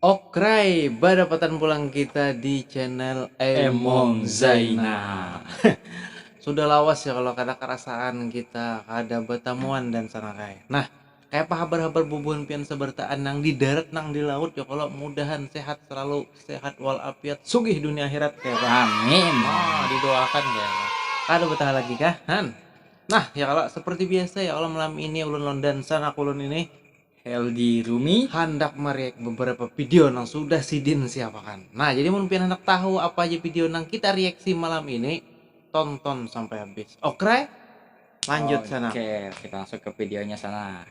Okray, badapatan pulang kita di channel Emong Zainal. Sudah lawas ya kalau kada kerasaan kita kada betamuan dan sanakai. Nah, kayak apa habar-habar bubuhan pian sabartaan nang di darat nang di laut ya kalau mudahan sehat selalu sehat wal afiat sugih dunia akhirat kaya apa. Amin. Oh, didoakan kaya apa. Kada betah lagi kah? Han. Nah, ya kalau seperti biasa ya kalau malam ini ulun londan sanak ulun ini Helgi Rumi handak mereact beberapa video nang sudah sidin siapakan. Nah, jadi mun pian handak tahu apa haja video nang kita reaksi malam ini, tonton sampai habis. Okre? Lanjut sana. Oke, kita langsung ke videonya sana.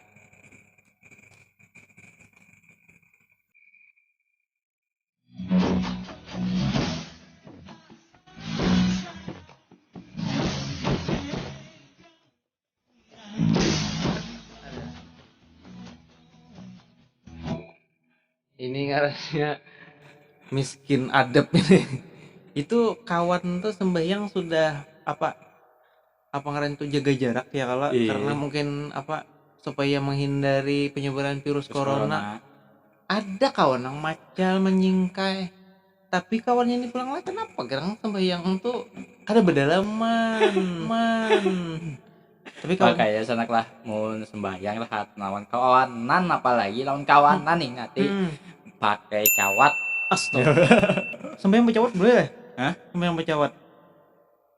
ini ngarannya miskin adab ini itu kawan tuh sembahyang sudah apa apa ngaran tu jaga jarak ya kalo Iya. karena mungkin apa supaya menghindari penyebaran virus Terus corona. corona. Ada kawan yang macal menyingkai. Tapi kawannya ini pulang lah kenapa gerang sembahyang tu kada bedalaman. Man. Tapi kawan Makanya sanak lah mun sembahyang rahat lawan kawanan apalagi lawan kawanan nih ngati Hmm. pakai cawat. Astaga. sembahyang becawat boleh lah. Hah? Sembahyang becawat.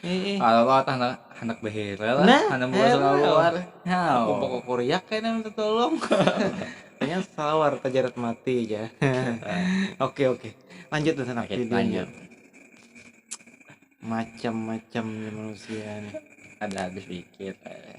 Heeh. Kalau mau handak handak behera lah, Nah, handak buka heran. salawar. Hau. Kumpul kukuriak kayaknya minta tolong. Kayaknya salawar tajarat mati aja. oke oke. Lanjut dan sana Oke, videonya. lanjut. Macam-macamnya manusia nih. Ada habis dikit. eh.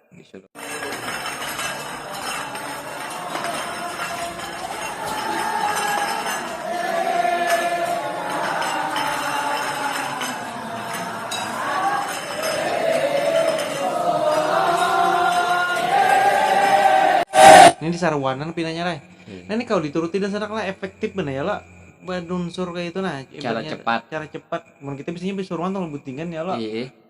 Ini disaruanan pinanya lah. Nah ini kawa dituruti dasar anak lah efektif banar ya lo badunsur kaya itu nah. Cara cepat. Cara cepat. Mun kita biasanya basuruan tu lalu butingan ya lo.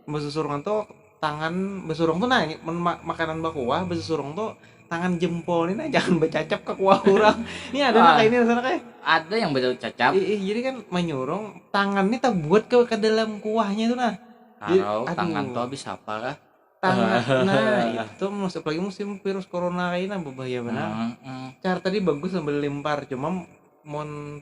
Basusurungan tu. tangan besurung tuh nah mun ma makanan bakuah besurung tuh tangan jempol ini nah jangan becacap ke kuah orang ini ada nah kayak ini rasanya kayak ada yang becacap ih, ih jadi kan menyurung tangan ini terbuat ke ke dalam kuahnya itu nah Karau, aduh. tangan tuh habis apa kah tangan nah itu masuk lagi musim virus corona kayak ini nah berbahaya benar hmm, hmm. cara tadi bagus sambil lempar cuma mon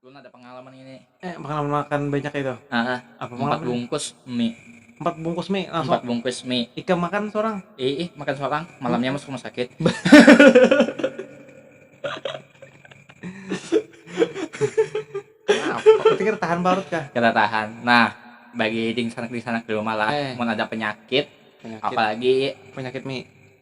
Ulun ada pangalaman ini. Eh, pangalaman makan banyak itu. Aha, Apa empat pangalaman? bungkus mie. Empat bungkus mie langsung. Empat bungkus mie. Ikam makan seorang. Ih, ih, makan seorang. Malamnya masuk rumah sakit. Apa? Berarti kada tahan parut kah? Kada tahan. Nah, bagi dingsanak-dingsanak di rumah lah, Eh. mun ada penyakit, Penyakit. apalagi Penyakit mie.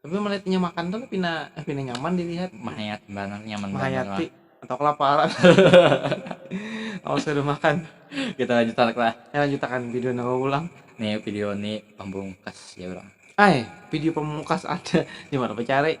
Tapi melihat inya makan tuh pina eh pina nyaman dilihat. Mahayat banget nyaman Mahayati atau kelaparan. Awas kada makan. Kita lanjut tanak lah. Kita lanjut akan video nang ulang. Nih video nih pamungkas ya orang. Ai video pamungkas ada di mana bacari.